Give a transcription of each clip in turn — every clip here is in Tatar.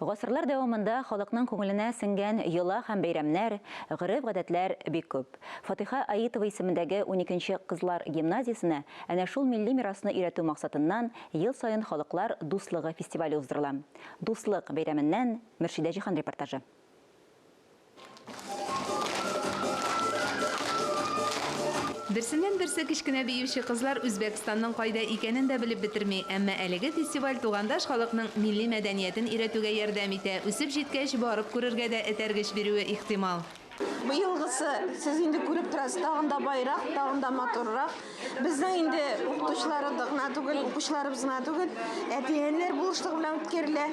Гасырлар дәвамында халыкның күңеленә сеңгән йола һәм бәйрәмнәр, гореф-гадәтләр бик күп. Фатыйха Аитова исемендәге уникенче кызлар гимназиясенә әнә шул милли мирасны өйрәтү максатыннан ел саен Халыклар дуслыгы фестивале уздырыла. Дуслык бәйрәменнән Мөршидә Җиһан репортажы. Берсеннән-берсе кечкенә биюче кызлар Үзбәкстанның кайда икәнен дә белеп бетерми, әмма әлеге фестиваль тугандаш халыкның милли мәдәниятен өйрәтүгә ярдәм итә, үсеп җиткәч, барып күрергә дә этәргеч бирүе ихтимал. Быелгысы, сез инде күреп торасыз, тагын да баерак, тагын да матуррак. Безнең инде укытучыларыбыз гына түгел, укучыларыбыз гына түгел, әтиәниләр булышлыгы белән үткәрелә.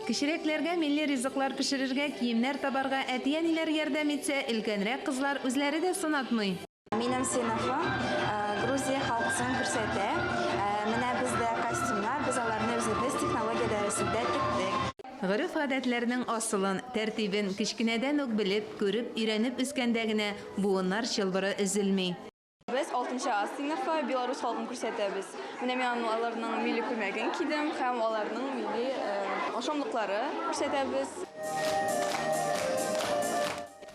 Кечерәкләргә милли ризыклар пешерергә, киемнәр табарга әти-әниләр ярдәм итсә, өлкәнрәк кызлар үзләре дә сынатмый. Минем сыйныфым Грузия халкысын күрсәтә. Менә бездә костюмнар, без аларны үзебез технология дәресендә тектек. Гореф-гадәтләрнең асылын, тәртибен кечкенәдән үк белеп, күреп, өйрәнеп үскәндә генә буыннар чылбыры өзелми. Без 6 А сыйныфы Беларусь халкын күрсәтәбез. Менә мин аны- аларның милли күлмәген кидем һәм аларның милли э, ашамлыклары күрсәтәбез.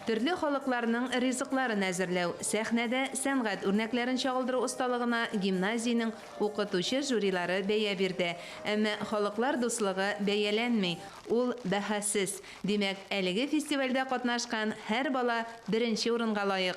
Төрле халыкларның ризыкларын әзерләү, сәхнәдә сәнгать үрнәкләрен чагылдыру осталыгына гимназиянең укытучы жюрилары бәя бирде. Әмма халыклар дуслыгы бәяләнми, ул бәһасез. Димәк, әлеге фестивальдә катнашкан һәр бала беренче урынга лаек.